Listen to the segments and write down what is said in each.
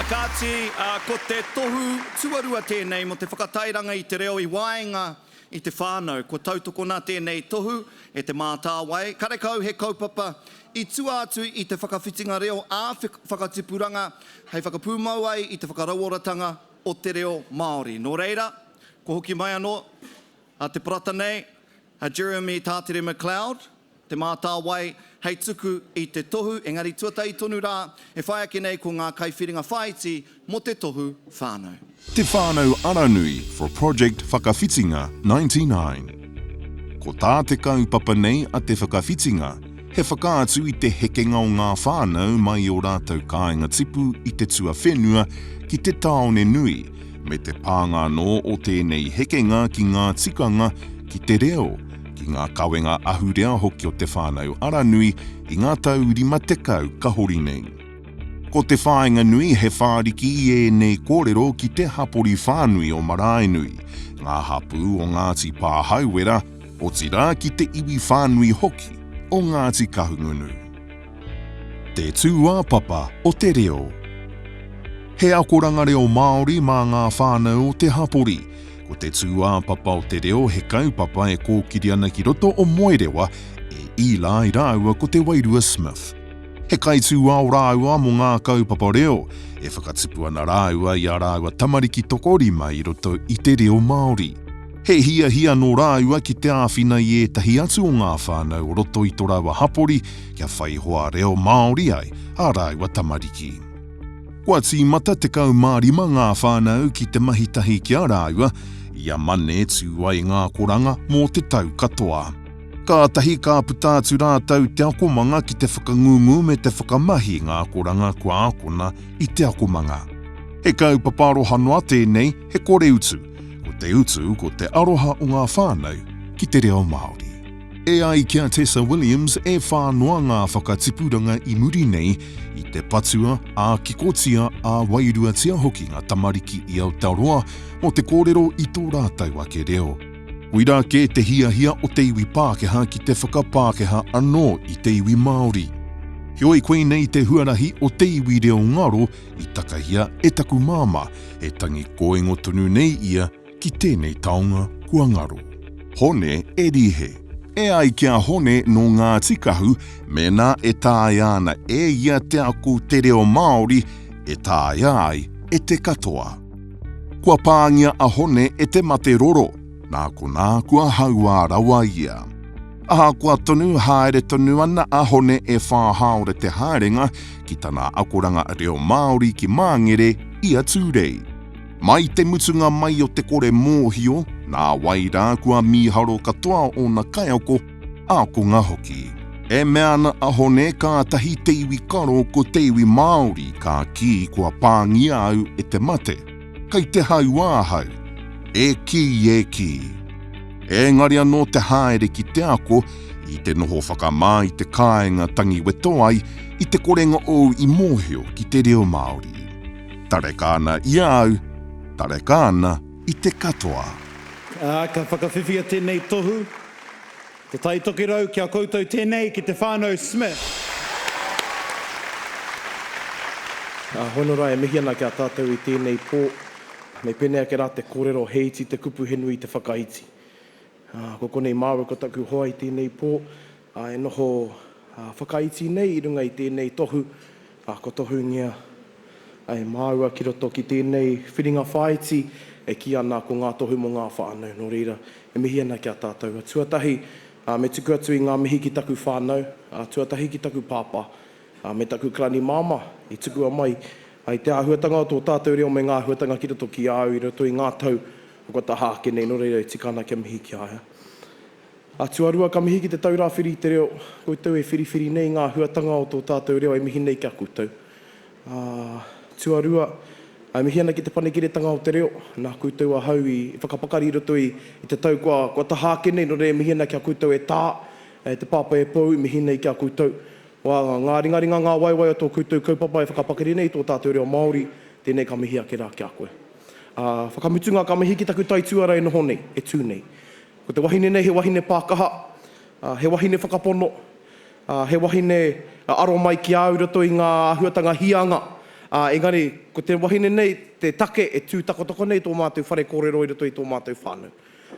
Kāti, ko te tohu tuarua tēnei mō te whakatairanga i te reo i waenga i te whānau. Kua tautokona tēnei tohu e Te Mātāwai karekau he kaupapa i tua atu i te whakawhitinga reo ā-whakatipuranga hei whakapūmau ai i te whakarauoratanga o te reo Māori. Nō reira, kua hoki mai anō te parata nei a Jeremy Tātere McLeod, Te Mātāwai, hei tuku i te tohu, engari tuatahi tonu rā, e whai ake nei ko ngā kaiwhiringa whāiti mō te tohu whānau. Te Whānau Aranui for Project Whakawhitinga 99 Ko tā te kaupapa nei a Te Whakawhitinga, he whakaatu i te hekenga o ngā whānau mai i ō rātou kāinga tipu i te tuawhenua ki te tāone nui, me te pānga anō o tēnei hekenga ki ngā tikanga, ki te reo, ki ngā kawenga ahurea hoki o Te Whānau Aranui i ngā tau 50 ka hori nei. Ko te whāinga nui he whāriki i ēnei kōrero ki te hapori whānui o Maraenui, ngā hapū o Ngāti Pāhauwera, otirā ki te iwi whānui hoki o Ngāti Kahungunu. Te tūāpapa o te reo. He akoranga reo Māori mā ngā whānau o te hapori, Ko te tūāpapa o te reo he kaupapa e kōkiri ana ki roto o Moerewa e Eli ai rāua ko Te Wairua Smith. He kaitūao rāua mō ngā kaupapa reo, e whakatipu ana rāua i ā rāua tamariki tokorima i roto i te reo Māori. He hiahia nō rāua ki te āwhina i ētahi atu o ngā whānau o roto i tō rāua hapori kia whai hoa reo Māori ai ā rāua tamariki. Kua tīmata 15 ngā whānau ki te mahi tahi ki a rāua, i a Mane tū ai ngā koranga mō te tau katoa. Kātahi ka puta atu rātou te akomanga ki te whakangungu me te whakamahi i ngā koranga kua akona i te akomanga. He kaupapa aroha noa tēnei, he kore utu, ko te utu ko te aroha o ngā whānau ki te reo Māori. E ai ki a Tessa Williams, e whā noa ngā whakatipuranga i muri nei i te patua, ā-kikotia, ā-wairuatia hoki ngā tamariki i Aotearoa mō te kōrero i tō rātou ake reo. Koirā kē te hiahia o te iwi Pākehā ki te whakapākehā anō i te iwi Māori. Heoi koinei te huarahi o te iwi reo ngaro i takahia e taku māmā, he tangi kōingo tonu nei ia, Ki tēnei taonga kua ngaro. Hone e Rihe. E ai ki a Hone nō Ngāti Kahu, mēnā e taea ana e ia te ako te reo Māori, e taea ai e te katoa. Kua pāngia a Hone e te mate roro, nā konā kua hauā rawa ia. Ahakoa tonu, haere tonu ana a Hone e Whāhaore Te Haerenga ki tana akoranga reo Māori ki Māngere i a Tūrei. Mai te mutunga mai o te kore mōhio, nā wai rā kua mīharo katoa ōna kaiako, ākonga hoki. E mea ana a Hone kātahi te iwi karo ko te iwi Māori ka kī kua pāngia au e te mate, kei te hau ahau. E kī, e kī. Ēngari anō te haere ki te ako, i te noho whakamā i te kāinga tangi weto ai, i te korenga ou i mōhio ki te reo Māori. Tareka ana i a au, tareka ana i te katoa. Ā, ka whakawhiwhia tēnei tohu, Te Tai Tokerau, ki a koutou tēnei, ki te Whānau Smith. Ā, hono rā, e mihi ana ki a tātou i tēnei pō, me pēnei ake rā te kōrero, he iti te kupu, he nui te whakaiti. Ā, ko konei māua ko taku hoa i tēnei pō. ā, e noho whakaiti nei i runga i tēnei tohu, ā, kua tohungia e māua ki roto ki tēnei whiringa whāiti e kī ana ko Ngā Tohu mō ngā Whānau. Nō reira, e mihi ana ki a tātou. Tuatahi, me tuku atu i ngā mihi ki taku whānau, ā, tuatahi ki taku pāpā, ā, me taku kalani māmā i tukua mai ai te āhuatanga o tō tātou reo me ngā āhuatanga ki roto ki a au i roto i ngā tau kua taha ake nei, nō reira e tika ana kia mihi ki a ia. A tuarua, ka mihi ki te tau rāwhiri i te reo, koutou e whiriwhiri nei ngā huatanga o tō tātou reo e mihi nei ki a koutou. A tuarua, e mihi ana ki Te Panekiretanga o te Reo, nā koutou ahau i whakapakari i roto i te tau kua taha ake nei, nō reira e mihi ana ki a koutou e tā, e te Pāpā e Pou i mihi nei ki a koutou. Wā, ngā ringaringa, ngā waewae o tō koutou kaupapa e whakapakari nei i tō tātou reo Māori, tēnei ka mihi ake rā ki a koe. A whakamutunga, ka mihi ki taku taituara e noho nei, e tū nei. Ko te wahine nei he wahine pākaha, ā, he wahine whakapono, ā, he wahine ka aro mai ki au i roto i ngā āhuatanga hīanga, ā, engari ko te wahine nei te take e tū takotako nei tō mātou whare kōrero i roto i tō mātou whānau.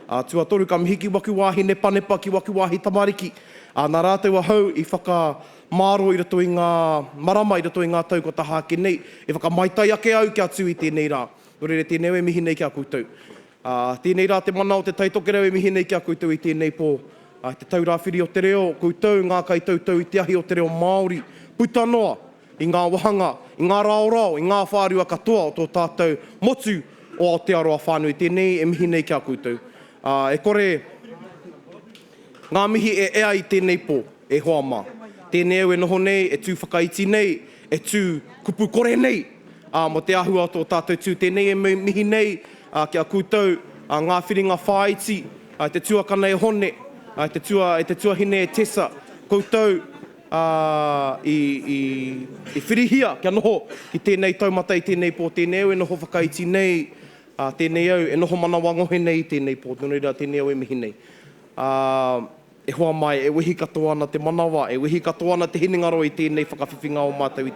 Ā, tuatoru ka mihi ki waku wāhi nepanepa, ki waku wāhi tamariki, ā, nā rātou ahau i whakamāro i roto i ngā marama, i roto i ngā tau kua taha ake nei, e whakamaitai ake au kia tū i tēnei rā. Nō reira, tēnei au e mihi nei ki a koutou. Ā, tēnei rā te mana o Te Tai Tokerau e mihi nei ki a koutou i tēnei pō. I te Tau Rāwhiri o te Reo, koutou, ngā kaitautau i te ahi o te reo Māori, puta noa i ngā wāhanga, i ngā raorao, i ngā whārua katoa o tō tātou motu o Aotearoa whānui tēnei e mihi nei ki a koutou. Ā, e kore ngā mihi e ea i tēnei pō. E hoa mā. Tēnei au e noho nei, e tū whakaiti nei, e tū kupu kore nei, ā, mō te āhua o tō tātou tū tēnei e mihi nei, ā, ki a koutou, ā, ngā whiringa whāiti, ā, e te tuakana e Hone, ā, e te tua, e te tuahine e Tessa, koutou, ā, i, i, i whirihia kia noho ki tēnei taumata i tēnei pō, tēnei au e noho whakaiti nei, ā, tēnei au e noho manawa ngohe nei i tēnei pō, nō reira, tēnei au e mihi nei. Ā. E hoa mai, e wehi katoa ana te manawa, e wehi katoa ana te hinengaro i tēnei whakawhiwhinga o mātou i te.